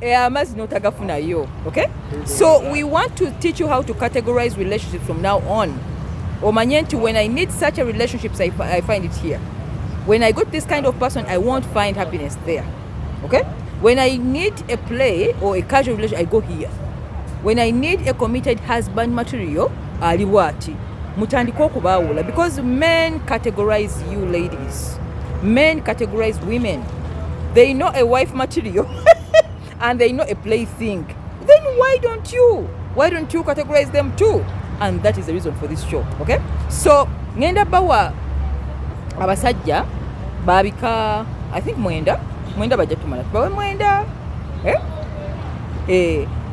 Eh, amazzi notagafunayo okay so we want to teach you how to categorize relationships from now on omanye nti when i need such a relationships I, I find it here when i got this kind of person i won't find happiness there okay when i need a play or a casual relationship i go here when i need a committed husband material ali bwati mutandike okubaawula because men categorize you ladies men categorize women they know a wife material and they know a play thing then why don't you why don't you categorize them too and that is the reason for this show okay so ngenda bawa abasajja babika i think mwenda mwenda bajja tumala tubawe mwenda eh? Eh,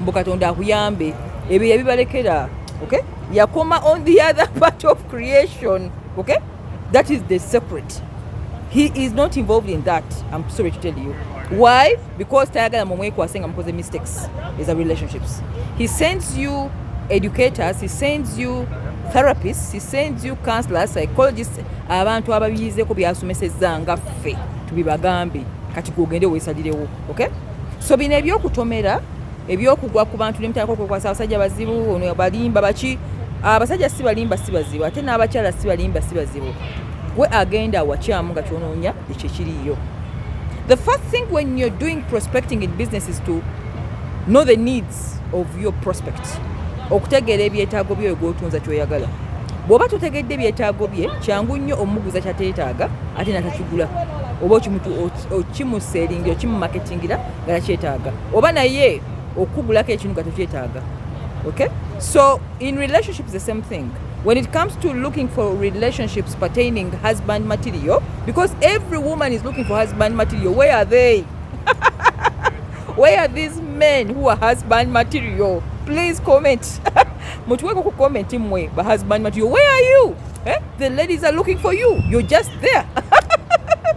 mbu katonda akuyambe ebyo yabibalekera okay yakoma on the other part of creation okay that is the secret he is not involved in that i'm sorry to tell you why because tayagala mumwekwase nga mukoze mistakes is a relationships he sends you educators he sends you therapists he sends you counselors psychologists abantu ababiyizeeko byasomesezza nga ffe tubibagambe kati gwogende weesalirewo okay so bino ebyokutomera ebyokugwa ku bantu nemutandika okwekwasa abasajja bazibu ono balimba baki abasajja si balimba si bazibu ate n'abakyala si balimba si bazibu gwe agenda wakyamu nga kyonoonya ekyo ekiriyo the first thing when you're doing prospecting in business is to know the needs of your prospect okutegeera ebyetaago byoyo gwotunza kyoyagala bwoba totegedde ebyetaago bye kyangu nnyo omuguza kyateetaaga ate natakigula oba okimutu okimuselingi okimumaketingira nga nakyetaaga oba naye okugulako ekintu nga tokyetaaga okay so in relationships the same thing when it comes to looking for relationships pertaining husband material because every woman is looking for husband material where are they where are these men who are husband material please comment mutuweko ku comment mwe ba husband material where are you eh? the ladies are looking for you you're just there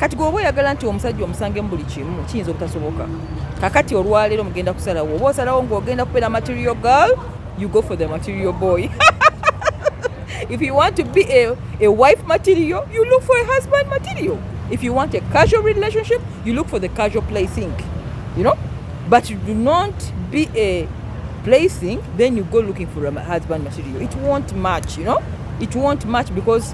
kati gwe oba oyagala nti omusajja omusange mu buli kimu kiyinza obutasoboka kakati olwaleero mugenda kusalawo oba osalawo ngaogenda kubeera material girl you go for the material boy if you want to be a, a wife material you look for a husband material if you want a casual relationship you look for the casual placing you know but you do not be a placing then you go looking for a husband material it won't match you know it won't match because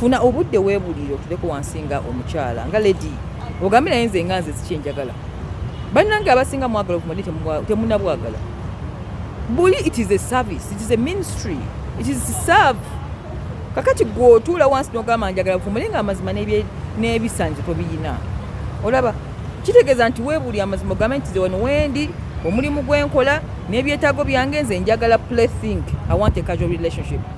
funa obudde webulire otuleko wansi nga omukyala nga lady ogambe naye nze nga nze sikyenjagala bannange abasinga mwagala okumadi temunabwagala buli it is a service it is a ministry it is serve kakati gwe otuula wansi nogamba njagala bufumule nga amazima n'ebisanyizo tobiyina olaba kitegeeza nti weebuli amazima ogambe nti zewano wendi omulimu gwenkola n'ebyetaago byange nze njagala play think i want a casual relationship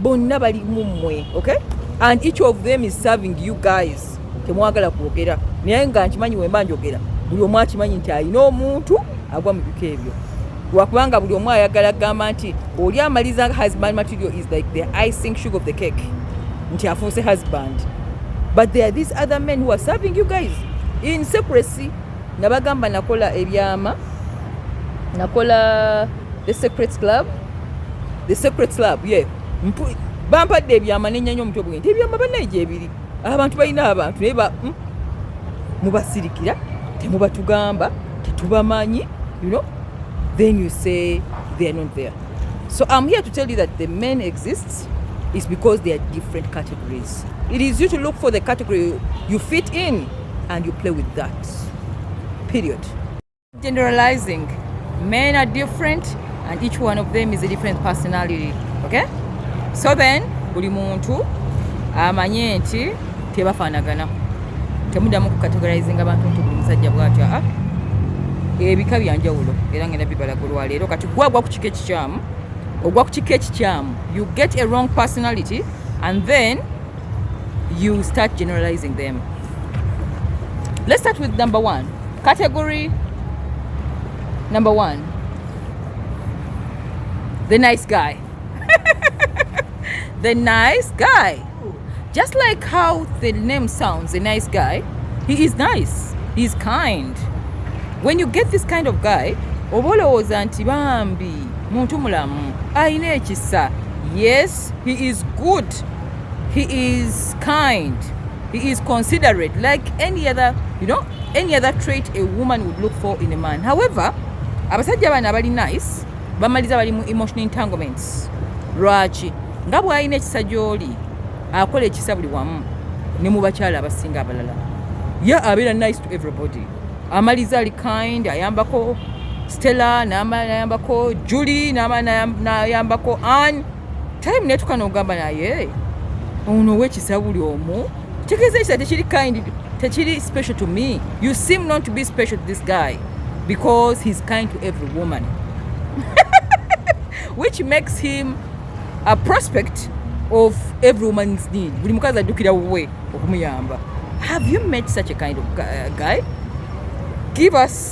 bonna bali mu mmwe okay and each of them is serving you guys temwagala kwogera naye nga nkimanyi wemba njogera buli omu akimanyi nti alina omuntu agwa mu biko ebyo lwakubanga buli omu ayagala kugamba nti oli amaliza husband material is like the icing sugar of the cake nti afuuse husband but there are these other men who are serving you guys in secrecy nabagamba nakola ebyama nakola The Secret Club. The Secret Club, yeah. Mpu, bampadde ebyama nenyanya omutwe bwe nti ebyama banaye gyebiri abantu balina abantu naye ba mm, mubasirikira temubatugamba tetubamanyi you know then you say they are not there so i'm here to tell you that the men exists is because they are different categories it is you to look for the category you fit in and you play with that period Generalizing. Men are different and each one of them is a different personality. Okay? So then, buli muntu amanye nti tebafanagana. Temudamu ku categorizing abantu nti buli musajja bwati a ah, ebika byanjawulo era ngenda bibala ku lwaleero kati gwe agwa ku kika ekikyamu ogwa ku kika ekikyamu you get a wrong personality and then you start generalizing them let's start with number one category number one the nice guy the nice guy just like how the name sounds a nice guy he is nice he's kind when you get this kind of guy oba olowooza nti bambi muntu mulamu alina ekisa yes he is good He is kind. He is considerate like any other, you know, any other trait a woman would look for in a man. However, abasajja bana bali nice, bamaliza bali mu emotional entanglements. Lwaki? Nga bwalina ekisa gy'oli akola ekisa buli wamu ne mu bakyala abasinga abalala. Ye abeera nice to everybody. Amaliza ali kind, ayambako Stella, n'ayambako Julie, n'ayambako Anne. time netuka nogamba naye ono owekisa buli omu tegeeza ekisa tekiri kind tekiri special to me you seem not to be special to this guy because he's kind to every woman which makes him a prospect of every woman's need buli mukazi ajjukira wuwe okumuyamba have you met such a kind of uh, guy give us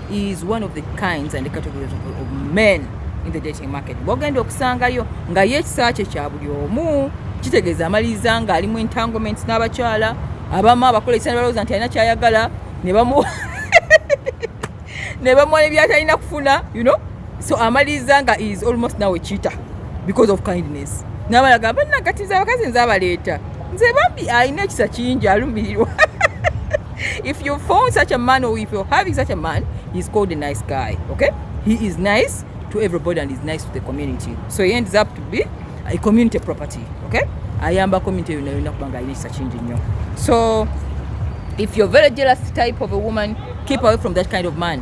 is one of the kinds and the categories of, of men in the dating market bwogenda okusangayo nga ye ekisa kye kya buli omu kitegeeza amaliriza nga alimu entanglements n'abakyala abamu abakola ekisa nebalowooza nti alina kyayagala ne bamuwa ne bamuwa nebyatalina kufuna you know so amaliriza nga is almost now a cheater because of kindness nabalaga banna kati nze abakazi nze abaleeta nze bambi alina ekisa kingi alumirirwa if you found such a man or if you're having such a man he's called a nice guy okay he is nice to everybody and is nice to the community so he ends up to be a community property okay ayamba community yona yona kubanga alina ekisa kingi nnyo so if you're very jealous type of a woman keep away from that kind of man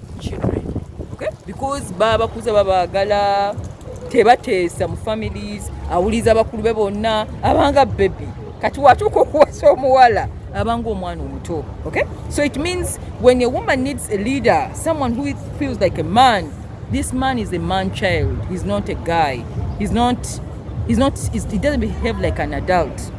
because babakuza babagala tebateesa mu families awuliza abakulu be bonna abanga bebi kati watuuka okuwasa omuwala abanga omwana omuto okay so it means when a woman needs a leader someone who feels like a man this man is a man child he's not a guy he's not he's not he's, he doesn't behave like an adult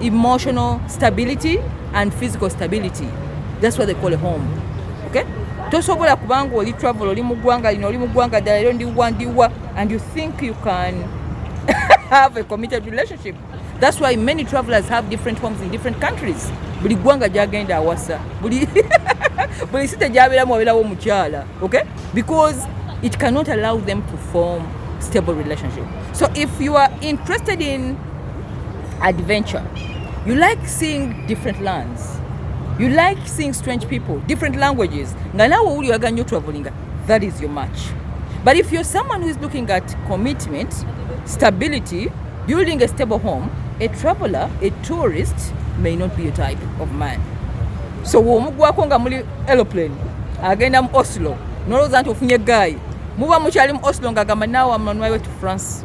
emotional stability and physical stability that's what they call a home okay tosobola kubanga oli travel oli mugwanga lino oli mugwanga ddala ero ndiwa ndiwa and you think you can have a committed relationship that's why many travelers have different homes in different countries buli gwanga gyagenda awasa buli buli site gyabeeramu wabeerawo omukyala okay because it cannot allow them to form stable relationship so if you are interested in adventure you like seeing different lands you like seeing strange people different languages nga nawe owuli oyaga nyo travelinga that is your match but if you're someone who is looking at commitment stability building a stable home a traveler a tourist may not be a type of man so womugwako nga muli aeroplane agenda mu oslo nolowooza nti ofunye gaayi muba mukyali mu oslo nga agamba naawe amanwayo to france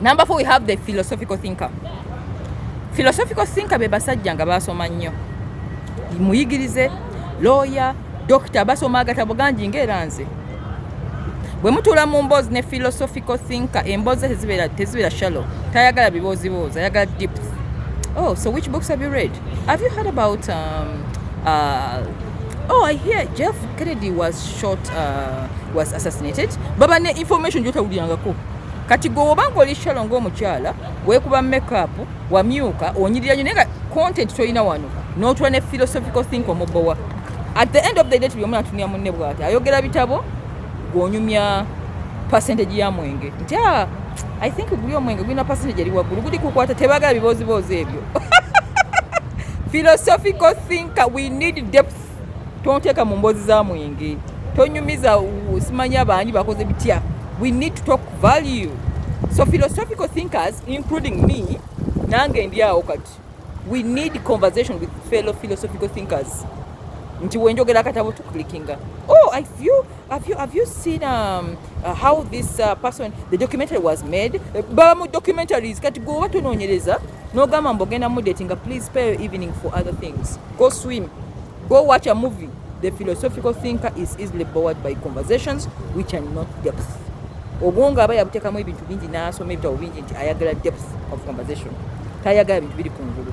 Number four, we have the philosophical thinker. Philosophical thinker be basajja nga baasoma nnyo. Muyigirize, lawyer, doctor basoma agatabo gangi ng'era nze. Bwe mutuula mu mboozi ne philosophical thinker, emboozi tezibeera tezibeera shallow. Tayagala bibooziboozi, ayagala deep. Oh, so which books have you read? Have you heard about um, uh, oh i hear jeff kennedy was shot uh, was assassinated baba ne information gyotawulirangako kati gwe woba nga oli shalo ngaomukyala wekuba makeup wamyuka onyirira nyo naye nga content tolina wano notula ne philosophical think omubowa at the end of the day tuli omu natunia munne bwati ayogera bitabo gwonyumya percentage ya mwenge nti ah, i think guli omwenge gulina percentage eri waggulu guli kukwata tebagala bibooziboozi ebyo philosophical thinker we need depth tonteeka mu mboozi za mwenge tonyumiza simanya baani bakoze bitya we need to talk value so philosophical thinkers including me nange ndi awo kati we need conversation with fellow philosophical thinkers nti wenjogera akatabo tuclickinga oh i feel Have you, have you seen um, uh, how this uh, person the documentary was made eh, baba mu documentaries kati gwe oba tononyereza nogamba mbu ogenda mudatinga please pay your evening for other things go swim go watch a movie the philosophical thinker is easily bored by conversations which are not depth obwongo aba yabutekamu ebintu bingi n'asoma ebitabo bingi nti ayagala depth of conversation tayagala bintu biri ku ngulu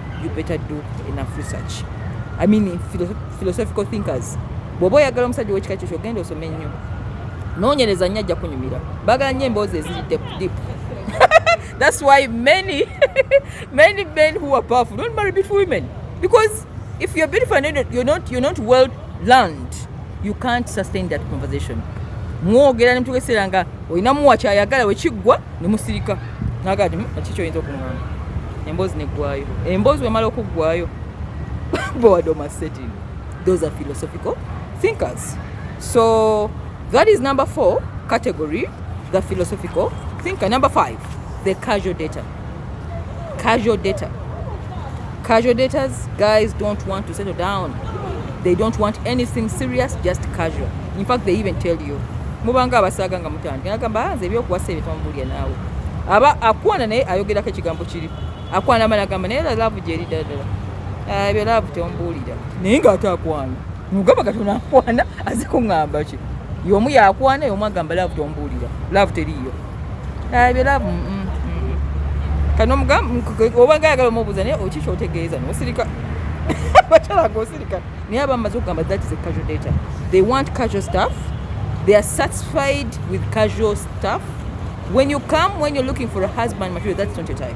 you better do enough research i mean philosophical thinkers bwoba oyagala omusajja owekika kyekyo ogenda osome nnyo nonyereza nnyo ajja kunyumira bagala nnyo emboozi eziri dip that's why many many men who are powerful don't marry beautiful women because if you're beautiful and you're not, you're not well learned you can't sustain that conversation mwogera nemutugeseera nga olinamuwa kyayagala wekiggwa ne musirika naga ati hmm, kiki oyinza okungamba emboozi neggwayo emboozi wemala okuggwayo bowadoma setting those are philosophical thinkers so that is number four category the philosophical thinker number five the casual data casual data casual datas guys don't want to settle down they don't want anything serious just casual in fact they even tell you mubanga abasaga nga mutandika nagamba ah, nze ebyokuwasa ebyo tomubulya naawe aba akwana naye ayogerako ekigambo kiri akwana ama nagamba naye love gyeri ddala ddala ah, ebyo love temubuulira naye nga ate akwana mugamba kati onakwana aze kuŋamba ki yomu yakwana yomu agamba laavu tombuulira laavu teriiyo ebyo laavu mm, mm, mm. kano obanga ayagala omubuuza naye okiki otegeeza nosirika bakyala ngosirika naye aba mumaze okugamba that is a casual data they want casual stuff they are satisfied with casual stuff when you come when you're looking for a husband material that's not your type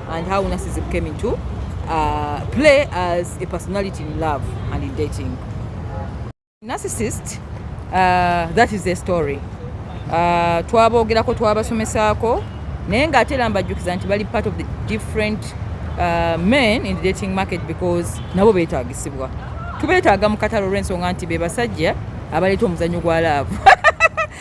and how narcissism came into uh, play as a personality in love and in dating. Narcissist, uh, that is the story. Uh, twabogerako twabasomesaako naye nga ate era mbajjukiza nti bali part of the different uh, men in the dating market because nabo beetagisibwa tubeetaaga mu katalo olw'ensonga nti be basajja abaleeta omuzannyo gwa laavu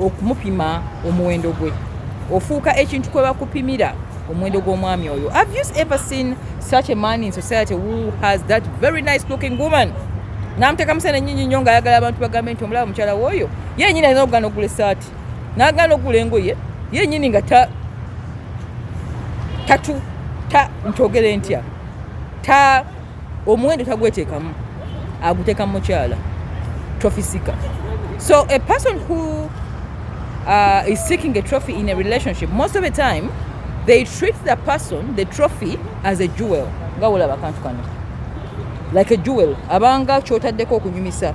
okumupima omuwendo gwe ofuuka ekintu kwe bakupimira omuwendo gw'omwami oyo have you ever seen such a man in society who has that very nice looking woman namuteeka musana enyinyi nnyo ngaayagala abantu bagambe nti omulaba mukyala wooyo yenyini alina okugana okugula esaati nagana okugula engoye yenyini nga ta tatu ta ntogere ntya ta omuwendo tagwetekamu aguteka mukyala trophy seeker so a person who uh, is seeking a trophy in a relationship most of the time they treat the person the trophy as a jewel nga wolaba kantu kano like a jewel abanga kyotaddeko okunyumisa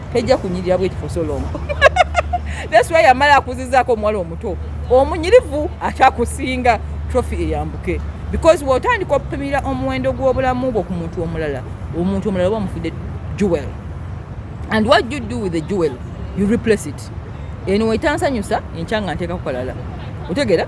tejja kunyirira bweti for so long that's why yamala akuzizaako omuwala omuto omunyirivu akyakusinga trophy eyambuke because wotandika opimira omuwendo gw'obulamu bwo ku muntu omulala omuntu omulala oba omufudde jewel and what you do with the jewel you replace it eno wetansanyusa enkya nga nteeka kukalala otegera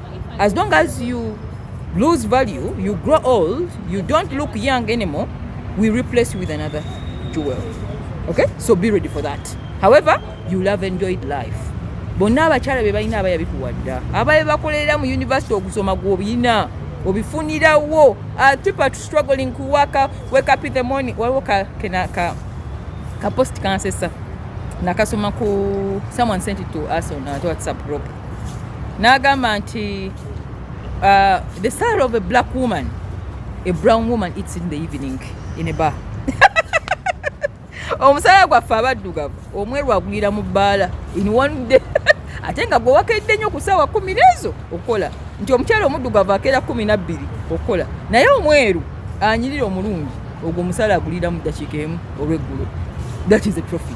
as long as you lose value you grow old you don't look young anymore we replace you with another jewel okay so be ready for that however you love enjoyed life bonna abakyala be balina abaya bikuwadda abaye bakolera mu university okusoma gwobiyina obifunirawo ah, people are struggling to work up, wake up in the morning waliwo ka, ka, ka, ka post kansesa nakasoma ku someone sent it to us on our whatsapp group n'agamba nti uh, the sal of a black woman a brown woman eats in the evening in a bar omusala gwaffe abaddugavu omweru agwira mu bbaala in one day ate nga gwewakedde nnyo ku saawa kumi neezo okukola nti omukyala omuddugavu akeera kumi nabbiri okukola naye omweru anyirira omulungi ogwo omusala agulira mu ddakiika emu olweggulo that is a trophy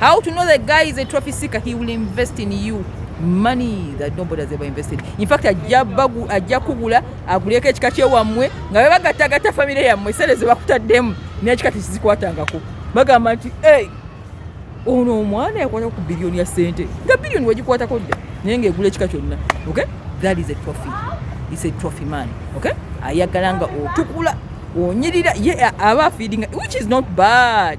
How to know the guy is a trophy seeker? He will invest in you money that nobody has ever invested. In fact, ajja bagu ajja kugula aguleko ekika kye wamwe nga baba gata gata family ya mwe sele zebakuta dem ne ekika tizikwata ngako. Baga manti hey ono mwana yakwata ku billion ya sente. Nga billion wajikwata ko dda. Nenge gule ekika kyonna. Okay? That is a trophy. It's a trophy man. Okay? Ayagalanga otukula onyirira ye aba feeding which is not bad.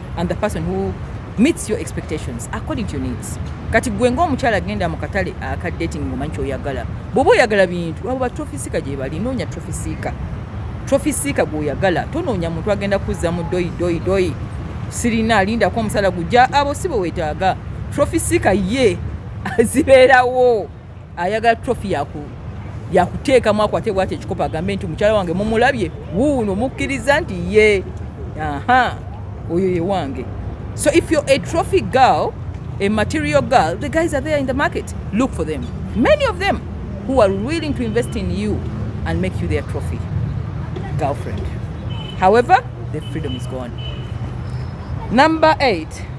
I'm the person who meets your expectations according to your needs kati gwe ngaomukyala agenda mu katale aka dating ngomanyi kyoyagala bwoba oyagala bintu abo batrofisiika gyebali noonya trofisiika trofisiika gweoyagala tonoonya muntu agenda kuzza mu doyi doyi doyi sirina alindako omusala gujja abo si bwe wetaaga trofisiika ye azibeerawo ayagala trophy yaku yakuteekamu akwate bwati ekikopo agambe nti mukyala wange mumulabye wuuno mukkiriza nti ye aha oyo ye wange so if you're a trophy girl a material girl the guys are there in the market look for them many of them who are willing to invest in you and make you their trophy girlfriend however the freedom is gone number eight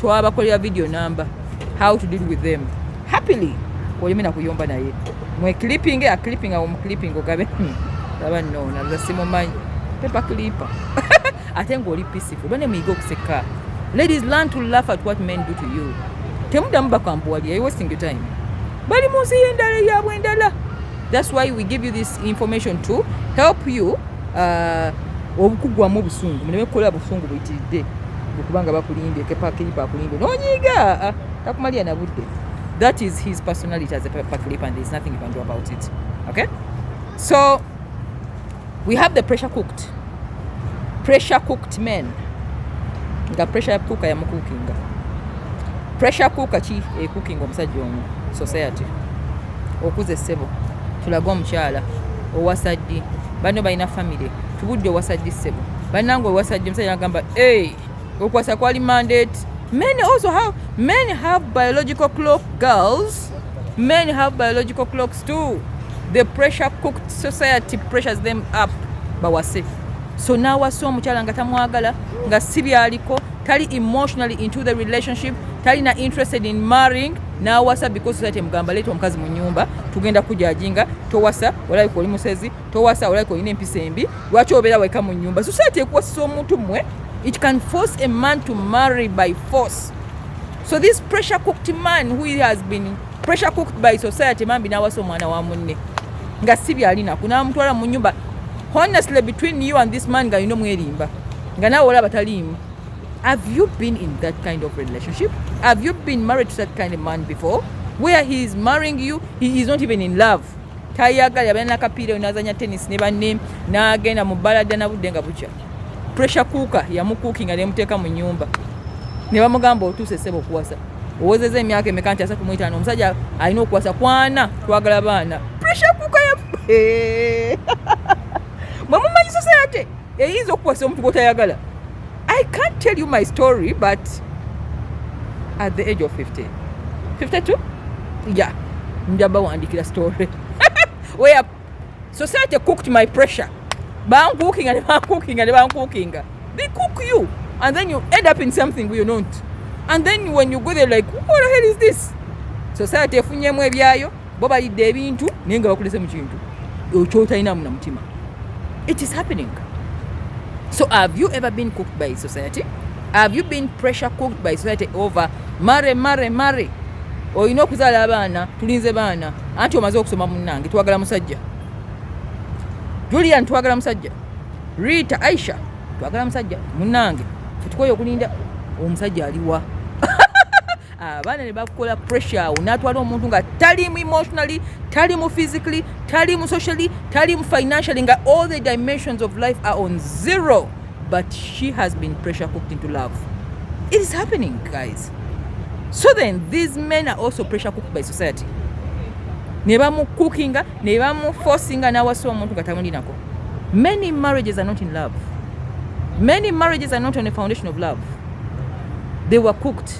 twabakolera video number how to deal with them happily oyeme nakuyomba naye mwe clipping a clipping awo muclipping ogabe hmm. laba no nabuza simumanyi pepa clipper ate ngaoli peaceful bane muyiga okuseka ladies learn to laugh at what men do to you temudamu bakambuwalira you wasting your time bali mu nsi y'endala eyabwe endala that's why we give you this information to help you ah, obukugwamu obusungu muleme kukola busungu buyitiridde okubanga bakulimbye kepakilipa akulimbye nonyiiga ah, takumalira na budde that is his personality as a pakilipa and there's nothing you can do about it okay so we have the pressure cooked pressure cooked men nga pressure cooker yamukukinga pressure cooker ki ekukinga omusajja omu society Okuze ssebo tulage omukyala owasa ddi banno balina famire tubudde owasa ddi ssebo bannange owasa ddi omusajja nagamba e okuwasa kwali mandate many also have many have biological clock girls many have biological clocks too the pressure cooked society pressures them up bawase so nawasa omukyala nga tamwagala nga si byaliko tali emotionally into the relationship talina interested in marrying n'awasa because society emugamba leeta omukazi mu nyumba tugenda kujajinga towasa olabika oli musezi towasa olabika olina empisa embi lwaki obeera weka mu nyumba society ekuwasisa omuntu mmwe it can force a man to marry by force so this pressure cooked man who has been pressure cooked by society mambi n'awasa omwana wa munne nga si byalinako n'amutwala mu nyumba honestly between you and this man nga yino mwerimba nga naawe olaba taliimu Have you been in that kind of relationship? Have you been married to that kind of man before? Where he is marrying you, he is not even in love. Tayagala yabana nakapiira oyo nazanya tennis ne banne n'agenda mu balada na budde nga bukya. Pressure cooker yamukuukinga ne muteeka mu nyumba. Ne bamugamba otuuse sebo kuwasa. Owozeza emyaka emeka nti asatu mu etaano omusajja alina okuwasa kwana twagala baana. Pressure cooker ya Mwe mumanyi society. eyinza okukwasa omuntu gwotayagala i can't tell you my story but at the age of 50 52 yeah njaba wandikira story where society cooked my pressure bankuukinga ne bankuukinga ne bankuukinga they cook you and then you end up in something you don't and then when you go there like what the hell is this society efunyemu ebyayo bo balidde ebintu naye nga bakulese mu kintu kyotalinamu na mutima it is happening so have you ever been cooked by society have you been pressure cooked by society over mare mare mare olina okuzaala abaana tulinze baana anti omaze okusoma munange twagala musajja julian twagala musajja rita aisha twagala musajja munange tutukoye okulinda omusajja aliwa abaana ah, ne bakukola pressure awo n'atwala omuntu nga tali mu emotionally tali mu physically tali mu socially tali mu financially nga all the dimensions of life are on zero but she has been pressure cooked into love it is happening guys so then these men are also pressure cooked by society ne bamukukinga ne bamufosinga n'awasa omuntu nga tamulinako many marriages are not in love many marriages are not on a foundation of love they were cooked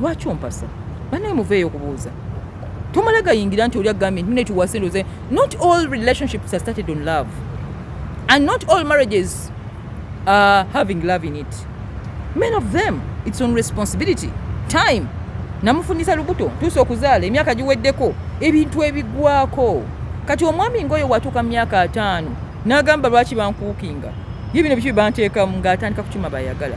lwaki ompasa banaye muveeyo okubuuza tomala gayingira nti oli agambye nti netuwase ndoze not all relationships are started on love and not all marriages are having love in it men of them its on responsibility time namufunisa lubuto tuusa okuzaala emyaka giweddeko ebintu ebigwako kati omwami ngaoyo watuuka mu myaka ataano n'agamba lwaki bankuukinga ye bino biki byebanteekamu ng'atandika kukima bayagala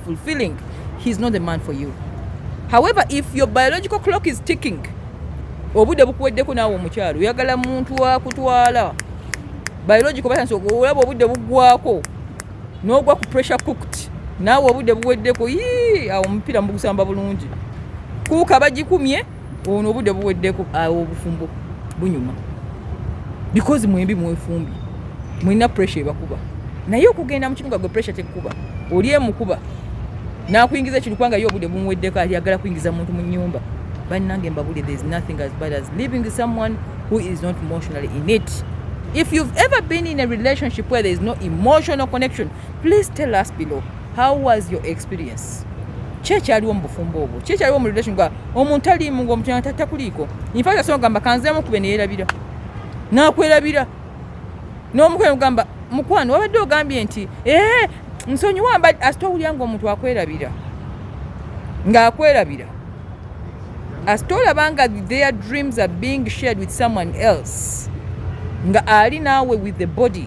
fulfilling he's not the man for you however if your biological clock is ticking obude bukuweddeko naawe omukyalo oyagala muntu wakutwala biological batansi olaba obude bugwako nogwa ku pressure cooked naawe obude buweddeko yii awo omupiira mubugusamba bulungi kuuka bagikumye ono obudde buweddeko awo obufumbo bunyuma because mwembi mwefumbi mulina pressure ebakuba naye okugenda mukinuga gwe pressure tekukuba oli emukuba nakuyingiza ekintu kubanga ye obudde bumuweddeko ayagala kuyingiza muntu mu nyumba bannange mbabule there is nothing as bad as living with someone who is not emotionally in it if you've ever been in a relationship where there is no emotional connection please tell us below how was your experience kyekyaliwo mu bufumbo obwo kyekyaliwo mu relation omuntu aliimu nga omukyana takuliiko infact asobola kugamba kanzeemu kube neyerabira nakwerabira n'omukwano ogamba mukwano wabadde ogambye nti ee nsonyiwa mba asita owulira nga omuntu akwerabira ng'akwerabira asita olaba nga their dreams are being shared with someone else nga ali naawe with the body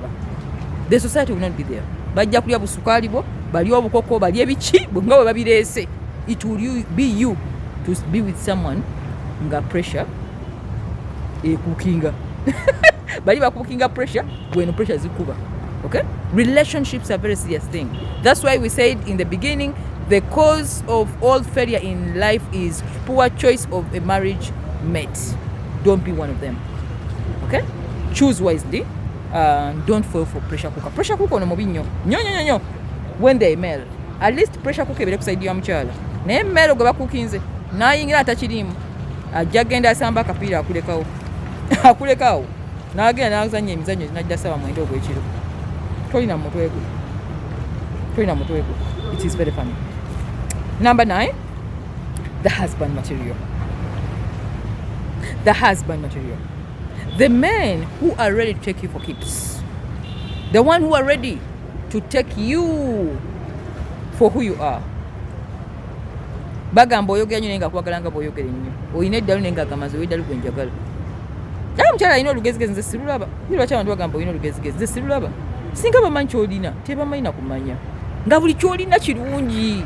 the society will not be there bajja kulya busukaali bwo balya obukoko balya ebiki nga bwe babireese it will be you to be with someone nga pressure ekukinga bali bakukinga pressure gweno pressure zikuba okay relationships are very serious thing that's why we said in the beginning the cause of all failure in life is poor choice of a marriage mate don't be one of them okay choose wisely uh, don't fall for pressure cooker pressure cooker ono mubi nnyo nyo nyo nyo when they mail at least pressure cooker ebere kusaidia ya mchala naye mail gwe bakukinze nayingira atakirimu ajja genda asamba akapiira akulekawo akulekawo nagenda nazanya emizanyo najja saba mwenda ogwekiro tolina mutwe gwe tolina mutwe gwe it is very funny number 9 the husband material the husband material the men who are ready to take you for keeps the one who are ready to take you for who you are bagamba oyogera nyo naye nga kwagala nga bwoyogera ennyo olina eddalu naye nga agamazi owedalu gwe njagala naye omukyala alina olugezigezi nze sirulaba ni lwaki abantu bagamba olina olugezigezi nze sirulaba singa bamanyi kyolina tebamanyi nakumanya nga buli kyolina kirungi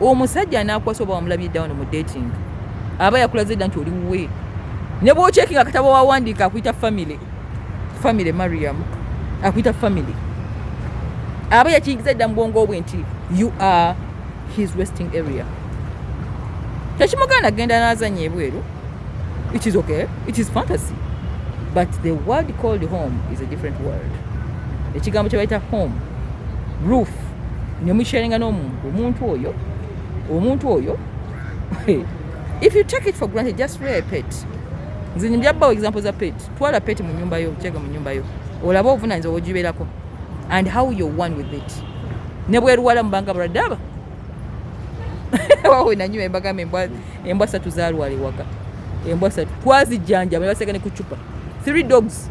omusajja anakwasa oba wamulabye down mu dating aba yakulaze dda nti oli wuwe ne bwokyeki nga katabo wawandiika akuyita family family mariam akuyita family aba yakiyingiza dda mu bwongo bwe nti you are his resting area tekimuganda genda nazanya ebweru it is okay it is fantasy but the word called home is a different word ekigambo kyebayita home roof ne musharinga n'omuntu omuntu oyo omuntu oyo if you take it for granted just wear a pet nze njabbawo example za pet twala pet mu nyumba yo kyega mu nyumba yo olaba obuvunanyizibwa bwogibeerako and how you one with it ne bweruwala mubanga buradaba wawe nanyuma embagamba embwa embwa satu zalwala ewaka embwa satu twazijjanjaba ne baseka ne ku cupa three dogs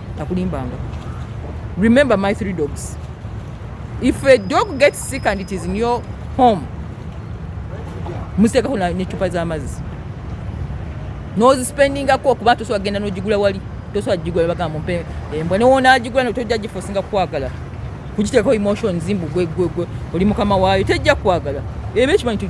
takulimbanga remember my three dogs if a dog gets sick and it is in your home musekako necupa zamazi nozispendingako okuba tosobola kugenda nogigula wali tosobola gigula bagamba mpe embwa newonagigula notojja gifosinga kwagala kugiteekako emotions mbu gwegwegwe oli mukama waayo tejja kwagala eba ekimanyi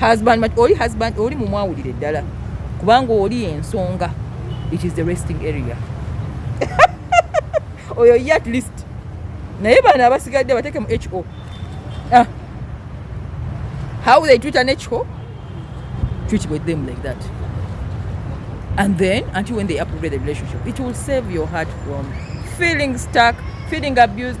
husband oli husband oli mumwawulire ddala kubanga oli ensonga it is the resting area oyo ye at least naye bano abasigadde bateeke mu ho ah. how they treat an ho treat with them like that and then until when they approve the relationship it will save your heart from feeling stuck feeling abused